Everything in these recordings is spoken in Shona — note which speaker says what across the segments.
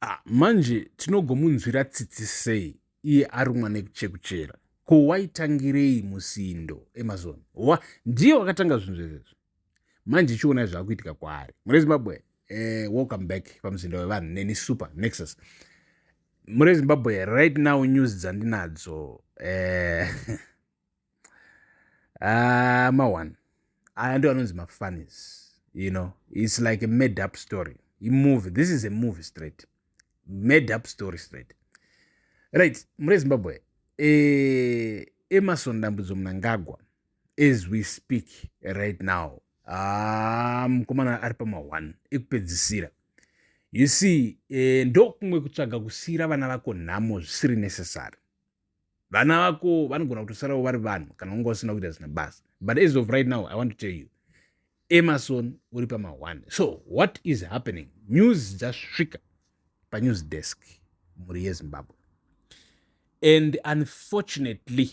Speaker 1: Ah, manje tinogomunzwira tsitsi sei iye arumwa nekuchekuchera ko waitangirei musindo amazon wa ndiye wakatanga zvinhu zvezvezvo manje chiona zvakuitika kwaari mune zimbabwe eh, welcome back pamuzinda wevanhu neni super nexus mune zimbabwe right now news dzandinadzo eh, ah, ma one aya ndo anonzi mafunnies you know its like a made up story imovie this is a movie straight made up story straight right mure zimbabwe eh, emarson dambudzo munangagwa as we speak right now ah, mukomana ari pama one ekupedzisira you see eh, ndokumwe kutsvaga kusiyira vana vako nhamo zvisiri necessary vana vako vanogona kutosarawo vari vanhu kana unga usina kuita zina basa but as of right now i want to tell you emerson uri pamahwani so what is happening news dzasvika panews desk mhuri yezimbabwe and unfortunately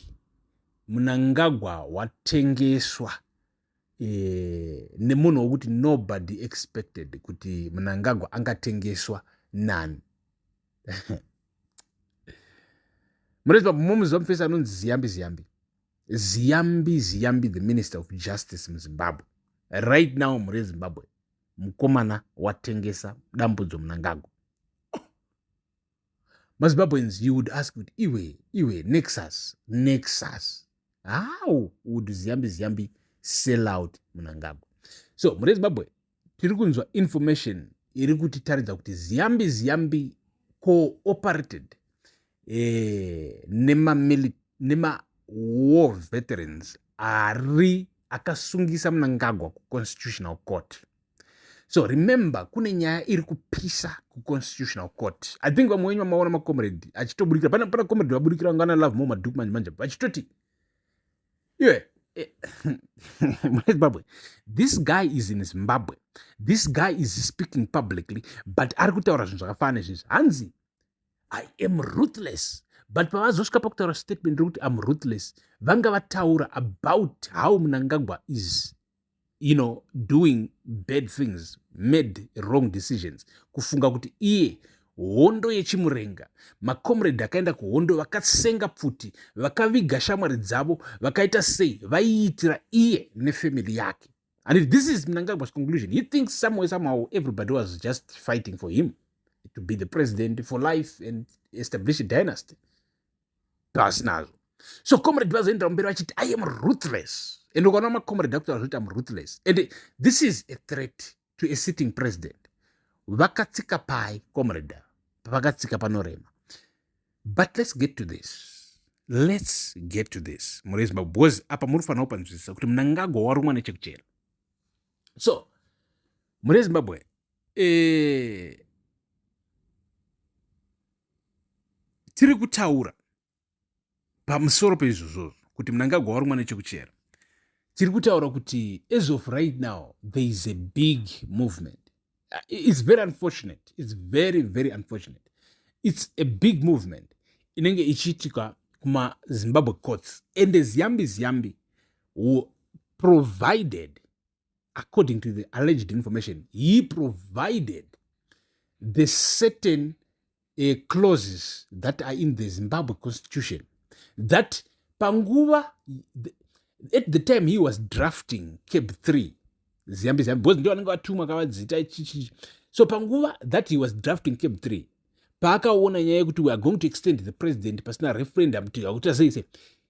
Speaker 1: munangagwa watengeswa eh, nemunhu wokuti nobody expected kuti munangagwa angatengeswa nani mureziva mumuziva mufesi anonzi ziyambi ziyambi ziyambi ziyambi the minister of justice muzimbabwe right now mure zimbabwe mukomana watengesa dambudzo munangagwa mazimbabweans you would ask kuti iwe iwe nexus nexus how would ziyambi ziyambi sell out munangagwa so mune zimbabwe tiri kunzwa information iri kutitaridza kuti ziyambi ziyambi cooperated eh, nemawar veterans ari akasungisa munangagwa kuconstitutional court so remember kune nyaya iri kupisa kuconstitutional court i think vamwe wenyu vamaona macomrade achitoburikira pana pana comrade vaburikira ngana love more madhuku manje manje vachitoti iwe eh, munezimbabwe this guy is in zimbabwe this guy is speaking publicly but ari kutaura zvinhu zvakafana nezvizvi hanzi i am ruthless but pavazosvika pakutaura statement rekuti am ruthless vanga vataura about how munangagwa is you know doing bad things made wrong decisions kufunga kuti iye hondo yechimurenga macomrade akaenda kuhondo vakasenga pfuti vakaviga shamwari dzavo vakaita sei vaiitira iye nefamily yake and if this is mnangagwa's conclusion he thinks somewhere somehow everybody was just fighting for him to be the president for life and establish a dynasty pasi nazvo so comrade vazoendera mberi vachiti i am ruthless and ukaona macomrade akuti vazvoti am ruthless and this is a threat to a sitting president vakatsika pai comrade pavakatsika panorema but let's get to this let's get to this muri zimbabwe because apa muri kufanira kupanzwisisa kuti munangagwa warumwa nechekuchera so muri zimbabwe eh, tiri kutaura pamusoro peizvozvozvo kuti munangagwa wari mwana chekuchera tiri kutaura kuti as of right now there is a big movement uh, it's very unfortunate it's very very unfortunate it's a big movement inenge ichiitika kumazimbabwe courts ende ziyambi ziyambi provided according to the alleged information he provided the certain uh, clauses that are in the zimbabwe constitution that panguva at the time he was drafting cab 3 ziyambi ziyambi because ndiwo anenge atumwa kavadzita ichichi so panguva that he was drafting cab 3 paakaona nyaya yekuti weare going to extend the president pasina referendum kuti akutasei sei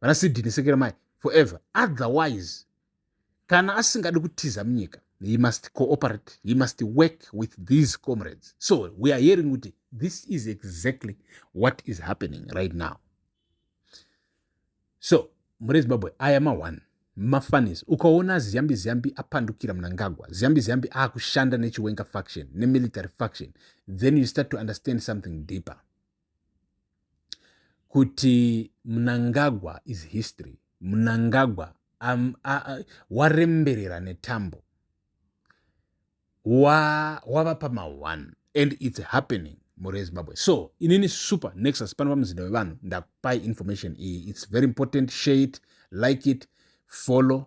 Speaker 1: vana sidini sekera mai forever otherwise kana asingadi kutiza munyika he must cooperate he must work with these comrades so we are hearing kuti this is exactly what is happening right now so muri zimbabwe aya ma1 mafanis ukaona ziyambi ziyambi apandukira munangagwa ziyambi ziyambi akushanda nechiwenga faction nemilitary faction then you start to understand something deeper kuti Mnangagwa is history. Mnangagwa um, uh, waremberera netambo wava pama1 and its happening mhuri yezimbabwe so inini super nexus pano pamuzinda wevanhu ndakupai information iyi its very important share it like it follow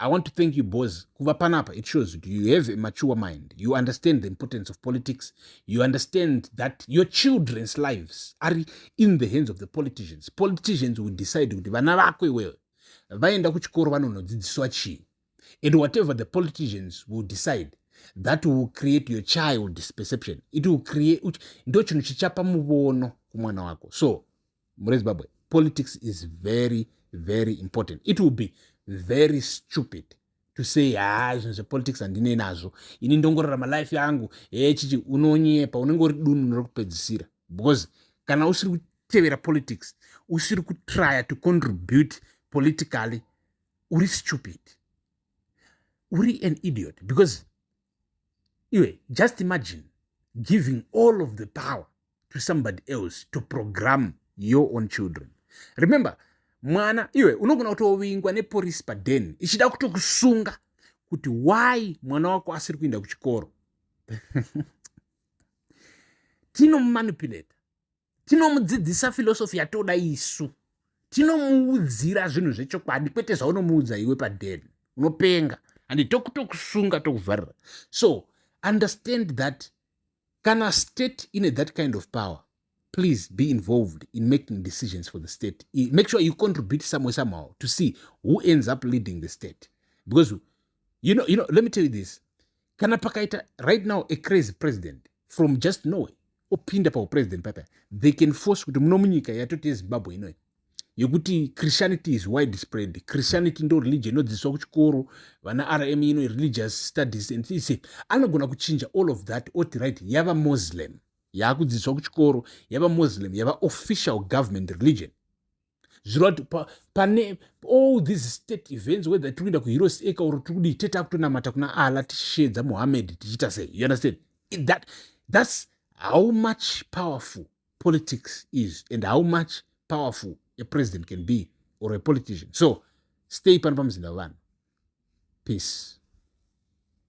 Speaker 1: I want to thank you boys kuva panapa it shows that you have a mature mind you understand the importance of politics you understand that your children's lives are in the hands of the politicians politicians will decide kuti vana vako iwewe vaenda kuchikoro vanonodzidziswa chii and whatever the politicians will decide that will create your child's perception it will create ndo chinhu chichapa muvono kumwana wako so murezimbabwe politics is very very important it will be very stupid to say haa zvinhu zvepolitics handine nazvo ini ndongorarama life yangu hee chichi unonyepa unenge uri dunu rekupedzisira because kana usiri kutevera politics usiri kutrya to contribute politically uri stupid uri an idiot because iwe just imagine giving all of the power to somebody else to program your own children remember mwana iwe unogona kutovingwa neporisi paden ichida kutokusunga kuti why mwana wako asiri kuenda kuchikoro tinomumanipulata tinomudzidzisa filosofi yatoda isu tinomuudzira zvinhu zvechokwadi kwete zvaunomuudza iwe padeni unopenga and tokutokusunga tokuvharira so understand that kana state ine that kind of power please be involved in making decisions for the state make sure you contribute somewhere somehow to see who ends up leading the state because you know, you know let me tell you this kana pakaita right now a crazy president from just norway opinda paupresident papa they can force kuti muno munyika yatoti yezimbabwe inoyi yekuti christianity is wide spread christianity ndo religion inodzidziswa kuchikoro vana rm ino religious studies and things anogona kuchinja all of that oti right yava muslim yaakudzidziswa kuchikoro yava muslim yava official government religion zvireva kuti pane all these state events whether tiri kuenda kuheroes acre or tiri kudii tete akutonamata kuna allah tichisheedza muhammed tichiita sei you understand that, that's how much powerful politics is and how much powerful a president can be or a politician so stay pano pamuzinda wevanhu peace